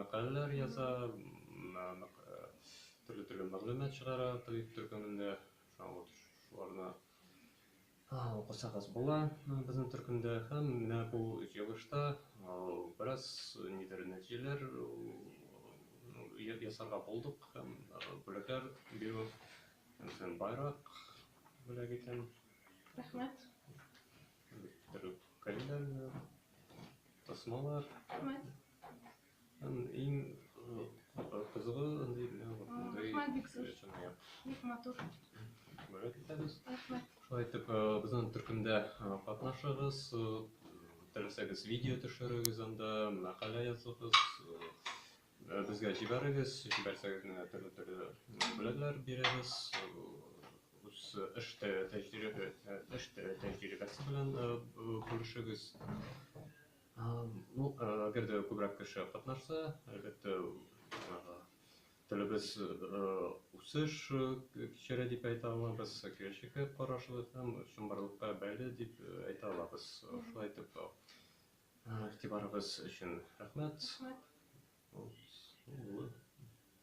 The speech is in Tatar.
мәкаләләр яза, төрле-төрле мәгълүмат чыгара табиб төркемендә. Шуларны укысагыз була безнең төркемдә. Һәм менә бу җыелышта бераз нидер нәтиҗәләр ясарга булдык һәм бүләкләр бирү һәм байрак бүләк итәм. Рәхмәт. Төрле кәлимнәр, тасмалар. Рәхмәт. Һәм иң кызыгы андый Рәхмәт бик зур. Бик матур. Рәхмәт итәбез. Рәхмәт. Шулай итеп, безнең төркемдә катнашыгыз, теләсәгез видео төшерегез анда, мәкалә языгыз, безгә җибәрегез, җибәрсәгез менә төрле-төрле бүләкләр бирәбез. Үз эш тәҗрибәсе белән бүлешегез. Ну, әгәр дә күбрәк кеше катнашса, әлбәттә, телебез үсеш кичерә дип әйтә алабыз, киләчәккә карашлы һәм чынбарлыкка бәйле дип әйтә алабыз. Шулай итеп, игътибарыгыз өчен рәхмәт. Рәхмәт.